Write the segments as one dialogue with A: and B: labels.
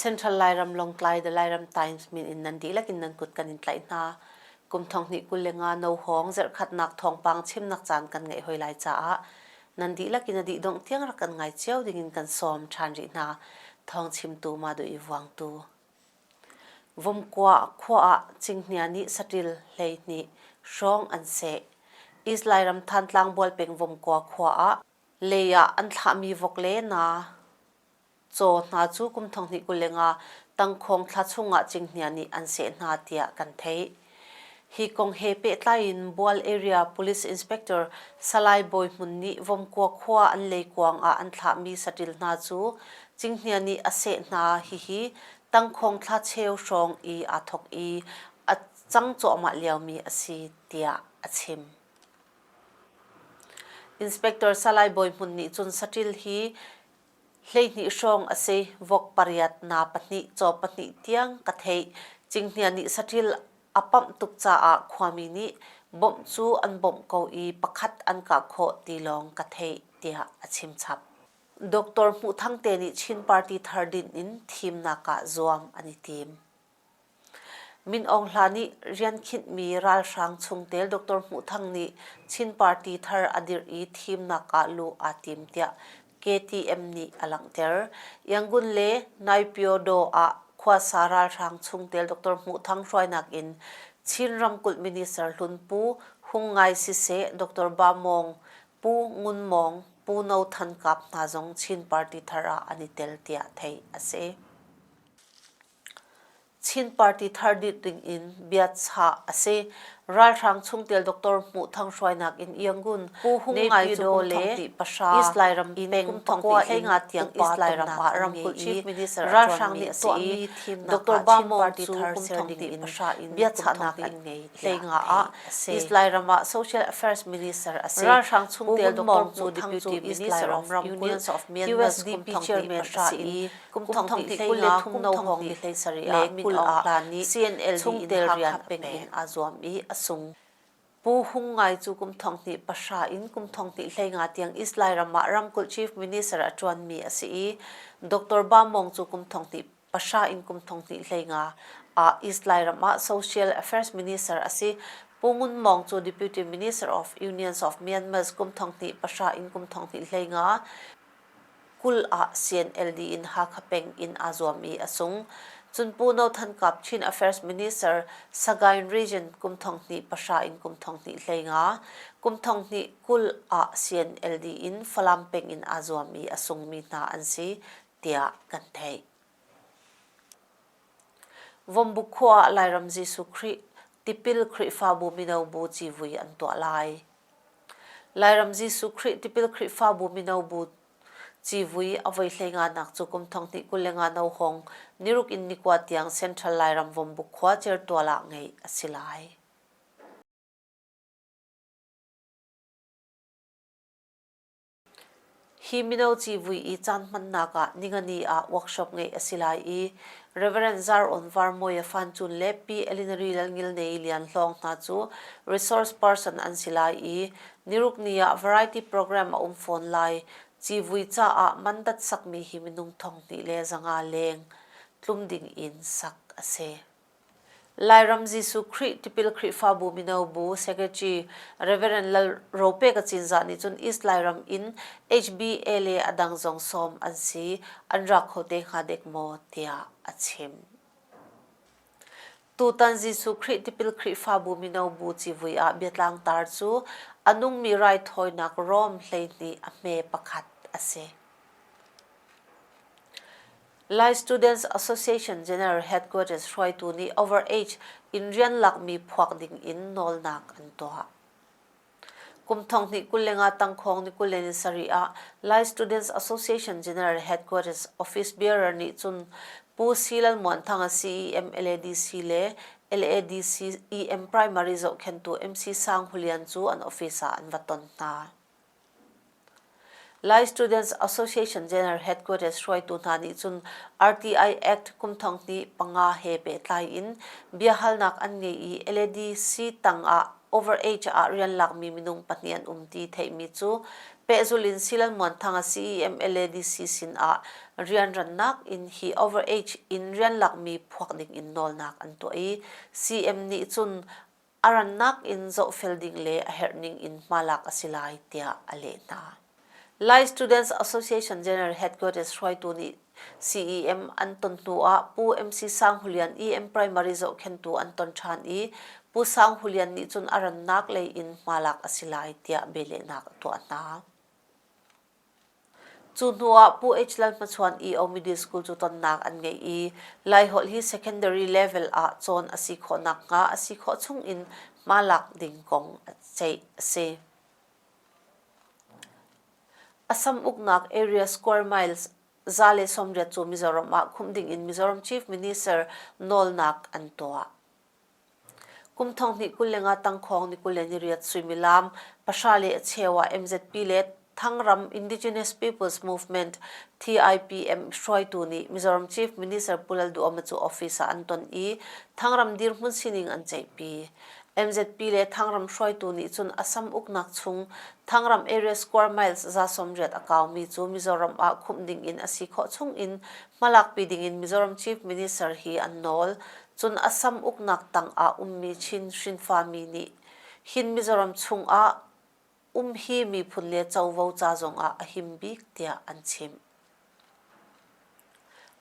A: Central Lairam Lawngtlai the Lairam Times min in nan dihlak in nan kut kan in tlaih hna. Kum thong hnih kul le nga no hong zerkhatnak thawngpang chimnak caan kan ngeih hoi lai caah nan dihlak in a dih dongh tiang rak kan ngai cio ding in kan sawm ṭhan rih hna. Thawng chimtu ma duh i vuangtu. Vomkua ah Cinghngia nih saṭil hleihnih hrawng an seh. Israel ram Thantlang Bual peng Vomkua khua ah lei ah an thlahmi vok le naa, caw hna cu kum thonghnih kuleng ah Tangkhawng thla chung ah Cinghngia nih an seh hna tiah kan theih. Hi kong he pehtlai in Bual Area Police Inspector Salai Bawi Hmun nih Vomkua khua an leikuang ah an thlahmi saṭil hna cu Cinghnia nih a seh hna. Hihi tangkhawng thlacheu hrawng i aa thawk i a cang cuahmah liomi a si tiah a chim. Inspector Salai Bawi Hmun nih cun saṭil hi Hleihnih hrawng a si. Vok pariat, naa pahnih, caw pahnih tiang ka theih. Cinghngia nih saṭil a pamh tuk caah khuami nih bawmh cu an bawmh ko i pakhat an kah khawh ti lawng ka theih, tiah a chim chap. Doctor Hmuh Thang te nih Chin Party thar dinh in thimnak ah zuam an i tim. Min Aung Hla nih rian khinhmi ralhrang chungtel Doctor Hmuh Thang nih Chin party thar a dirh i thimnak ah luh aa tim tiah KTM nih a langhter. Yangon le Naypyidaw ah khuasa ralhrang chungtel Doctor Hmuh Thang hruainak in Chin ramkulh minister hlun Pu Hung Ngai siseh, Doctor Ba Mawng, Pu Ngun Mawng, Pu No Than Kap hna zong Chin party thar ah an i tel tiah theih a si. Chin party thar dirh dingin bia chah a si. Ralhrang chungtel Doctor Hmuh Thang hruainak in Yangon, Pu Hung Ngai cu kum thongti pahra East Lairam in kum thongti heinga tiang East Lairam ah ramkulh Chief Minister ralhrang nih a tuahmi Doctor Ba Mawng cu kum thongti pahra in biachahnak an ngei heinga ah East Lairam ah Social Affairs Minister a si. Ralhrang chungtel Doctor Hmuh Thang cu East Lairam ramkulh USDP chairman a si i Kum thongthong thongthong le thumno hawng thei sarih ah kul ah hlan i CNL chungtel rian a peng in aa zuam i a sung. Pu Hung Ngai cu kum thongthnih pahra in kum thongthnih hlei nga tiang East Lairam ah ramkulh Chief Minister a ṭuanmi a si i Doctor Ba Mawng cu kum thongthnih pahra in kum thongthnih hlei nga ah East Lairam ah Social Affairs Minister a si. Pu Ngun Mawng cu Deputy Minister of Unions of Myanmar kum thongthnih pahra in kum thongthnih hlei nga kul ah CNLD in Hakha peng in aa zuam i a sung. Cun Pu No Than Kap Chin Affairs Minister Sagaing Region kum thong hnih pahra in kum thong hnih hlei nga kum thong hnih kul ah CNLD in Falam peng in aa zuam i a sungmi hna an si tiah kan theih. Vombu khua ah Lairam Jesuh Khrih, tipil Khrihfabu mino bu civui an tuah lai. Lairam Jesuh Khrih tipil Khrihfabu mino bu civui a voihlei nganak cu kum thong hnih kul le nga no hong niruk in nikua tiang Central Lairam Vombu khua Certual ah ngeih a si lai. Hi mino civui i caan hmannak ah Ningani ah workshop ngeih a si lai i Rev. Zaron Var Mawia Fan Cun le Pi Elinari Lalngilnei Lian Hlawng hna cu resource person an si lai i nirukni ah variety program a um fawn lai. Civui caah mandat sakmi hi minung thong hnih le zanga leng tlum ding in sak a si. Lairam Jesuh Khrih tipil Khrihfabu mino bu secretary Reverend Lal Rope Kacinzah nih cun East Lairam in HBLA a dang zong sawm an si an ra kho te hnga dek maw tiah a chim. Tutan Jesuh Khrih tipil Khrihfabu mino bu civui ah biatlang tar cu a nungmi raithawinak Rome hleihnih a hme pakhat a si. Lai Students Association General Headquarters hruaitu nih overage in rian lakmi phuak ding in nawlnak an tuah. Kum thong hnih kule nga tangkhawng ni kule ni sari ah Lai Students Association General Headquarters office bearer nih cun Pu Si Lal Muan Thanga CEM LADC le LADC EM primary zohkhentu MC Sang Hu Lian cu an office ah an va ton hna. Lai Students Association General Headquarters hruaitu hna nih cun RTI Act kumthong hnih panga he pehtlai in biahalnak an ngei i LADC tang ah overage ah rian lakmi minung pahnih an um ti theihmi cu pehzulh in Silalmuan Thanga CEM LADC sin ah rianrannak in hi overage in rian lakmi phuak ding in nawlnak an tuah i CM nih cun a rannak in zohfel ding le a herhning in hma lak a si lai tiah a leh hna. Lai Students Association General Headquarters hruaitu nih CEM an ton hnu ah Pu MC Sang Hulian EM Primary zohkhentu an ton ṭhan i Pu Sang Hulian nih cun a rannak lei in hma lak a si lai tiah bialehnak a tuah hna. Cu hnu ah Pu H. Lalhmachhuan i a ummi school cu tonnak an ngei i Laiholh hi secondary level ah cawn a si khawh nakhnga a si khawh chungin hma lak ding kong ceih a si. Assam uknak area square miles za le sawmriat cu Mizoram ah khumh ding in Mizoram Chief Minister nawlnak an tuah. Kum thong hnih kul lengah tangkhawng ni kul le niriat suimilam pahra le a cheu ah MZP le Thangram Indigenous Peoples Movement TIPM hruaitu nih Mizoram Chief Minister Pu Lalduhoma cu office ah an ton i Thangram dirhmun sining an ceihpi. MZP le Thangram hruaitu nih cun Assam uknak chung Thangram area square miles za sawmriat a kaumi cu Mizoram ah khumh ding in a si khawh chung in hmalakpi ding in Mizoram Chief Minister hi an nawl. Cun a sam uknak tang ah ummi Chin hrinfa mi nih hin Mizoram chungah um hi miphun le covo ca zongah a him bik tiah an chim.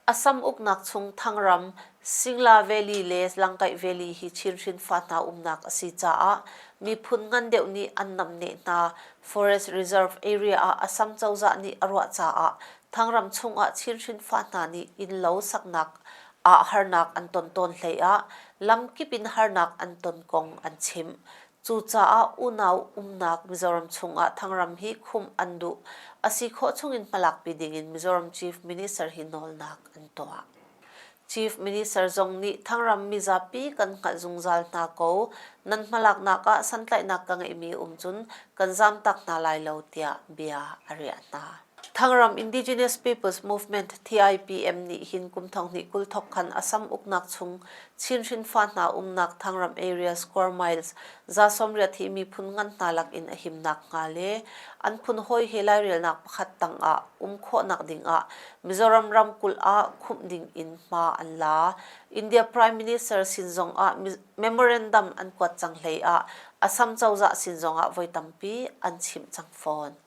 A: Assam uknak chung Thangram, Singla Valley le Langkaih Valley hi Chin hrinfa hna umnak a si caah miphun ngan deuh nih an namneh hna Forest Reserve area ah Assam cozah nih a ruah caah Thangram chungah Chin hrinfa hna nih innlo saknak ah harnak an ton tawn hleiah lamkip in harnak an ton kong an chim. Cucaah unau umnak Mizoram chungah Thangram hi khumh an duh a si khawh chungin hmalakpi dingin Mizoram Chief Minister hi nawlnak an tuah. Chief Minister zong nih Thangram mizapi kan hngalh zungzal hna ko. Nan hmalaknak ah santlaihnak ka ngeihmi um cun kan zamtak hna lai lo tiah bia a riah hna. Thangram Indigenous Peoples Movement TIPM nih hin kum thonghnih kul thok khan Assam uknak chung Chin hrinfa hna umnak Thangram Area Square Miles za sawmriat hi miphun ngan hna lakin a himnak hnga le an phun hawi he lairelnak pakhat tang ah um khawhnak ding ah Mizoram ramkulh ah khumh ding in hma an la. India Prime Minister sin zong ah memorandum an kuat cang hlei ah Assam cozah sin zong ah voi tampi an chimh cang fawn.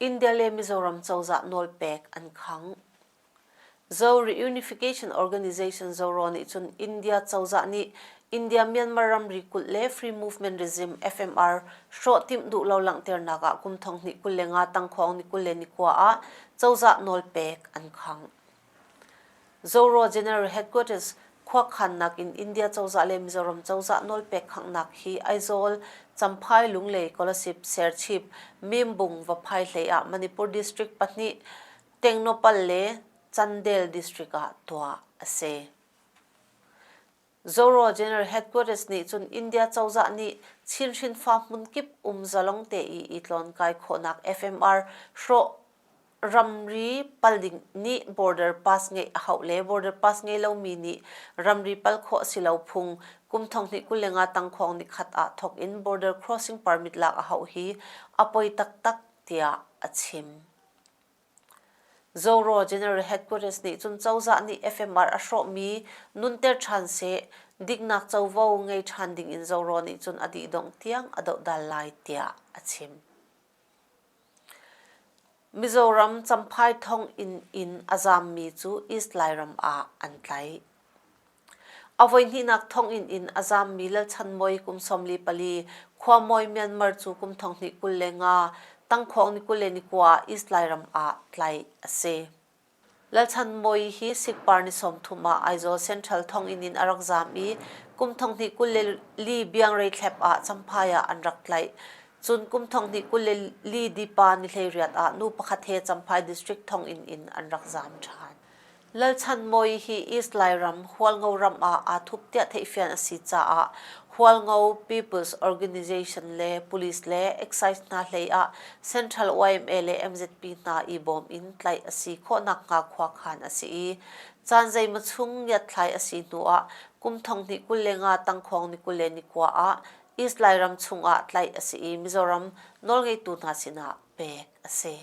A: India le Mizoram cozah nawlpek an khang. Zo Reunification Organization Zoro nih cun India cozah nih India Myanmar ramri kulh le Free Movement Regime FMR hrawhtimh duh lo langhternak ah kum thong hnih kul le nga tangkhawng ni kul le ni kua ah cozah nawlpek an khang. Zorro General Headquarters khuakhannak in India cozah le Mizoram cozah nawlpek khanghnak hi Aizawl, Champhai, Lunglei, Kolasib, Serchhip, Mimbung Vaphai hlei ah Manipur District pahnih, Tengnopal le Candel District ah tuah a si. Zoro General Headquarters nih cun India cozah nih Chinhrin farm hmunkip um zalong teii itlonkai khawhnak FMR hrawh ramri pal ding nih border pass ngeih a hauh le border pass ngei lomi nih ramri pal khawh a si lo phung kum thong hnih kul le nga tangkhuang nikhat ah thawk in border crossing permit lak a hauh hi a poi taktak tiah a chim. Zoro General Headquarters nih cun cozah nih FMR a hrawhmi nunter ṭhan seh, diknak covo ngei ṭhan ding in Zoro nih cun a dihdongh tiang a dohdal lai tiah a chim. Mizoram Champhai thonginn in a zammi cu East Lairam ah an tlaih. A voihnihnak thonginn in a zaammi Lalchan Mawi kum sawmli pali, Khuamawi Myanmar cu kum thonghnih kul le nga, Tangkhuang ni kul le ni kua ah East Lairam ah tlai a si. Lalchan Mawi hi Sikpar ni sawmthum ah Aizawl Central thonginn in a rak zaam i kum thonghnih kul le li biangrei thlep ah Champhai ah an rak tlaih. Cun kum thonghnih kul le li dipa ni hleiriat ah nu pakhat he Champhai District thonginn in an rak zaam ṭhan. Lalchanmawii hi East Lairam Hualngo ram ah aa thup tiah theihfian a si caah Hualngo People's Organization le police le excise hna hlei ah Central YMA le MZP hna i bawm in tlaih a si khawhnak hnga khuakhan a si i caan zeima chung ngiatthlai a si hnu ah kum thong hnih kul le nga tangkhuang ni kul le ni kua ah East Lairam chung ah tlaih a si i Mizoram nawlngeitu hna sinah pek a si.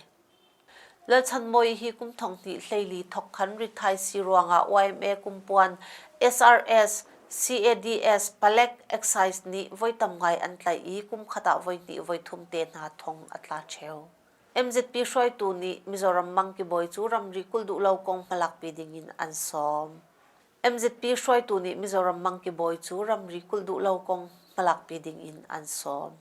A: Lalchan Mawi hi kum thonghnih hleili thok khan rithaisi ruangah YMA kumpuan SRS CADS Palek Excise nih voi tam ngai an tlaih i kum khat ah voi hnih voi thum te hna thong a tla cheu. MZP hruaitu nih Mizoram mangkibawi cu ramri kul duh lo kong hmalakpi dingin an sawm. MZP hruaitu nih Mizoram mangkibawi cu ramri kul duh lo kong hmalakpi dingin an sawm.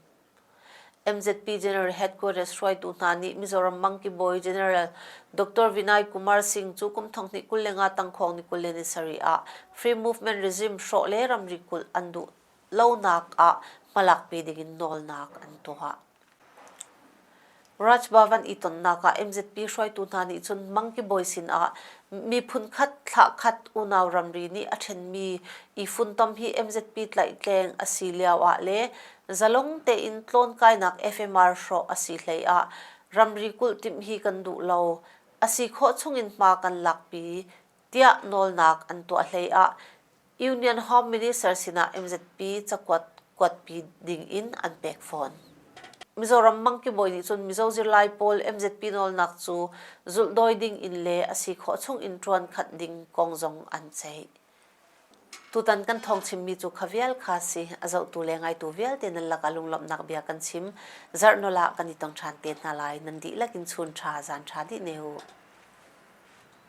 A: MZP General Headquarters hruaitu hna nih Mizoram Mangki Bawi General Dr. Vinay Kumar Singh cu kum thong hnih kul le nga tangkhawng ni kul le nisarih ah Free Movement regime hrawh le ramri kulh an duh lonak ah hmalakpi ding in nawlnak an tuah. Rajbhavan i tonnak ah MZP hruaitu hna nih cun Monkey Boy sin ah miphun khat thla khat unau ramri nih a ṭhenmi i funtom hi MZP tlaihtleng a si lio ah le zalong tein tlawnkainak FMR hrawh a si hlei ah ramri kulh timh hi kan duh lo, a si khawh chung in hma kan lakpi tiah nawlnak an tuah hlei ah Union Home Minister sinah MZP cakuat kuatpi ding in an pek fawn. Mizoram mangkibawi nih cun Mizo zirlai pawl MZP nawlnak cu zulhdawi ding in le a si khawh chung in ṭuan khat ding kong zong an ceih. Tutan kan thawng chimmi cu kha vial kha si a zohtu le ngaitu vialte nan laka lunglawmhnak bia kan chim zarhnola ah kan i tong ṭhan te hna lai nan dihlak in chun ṭha zan ṭha dih ne u.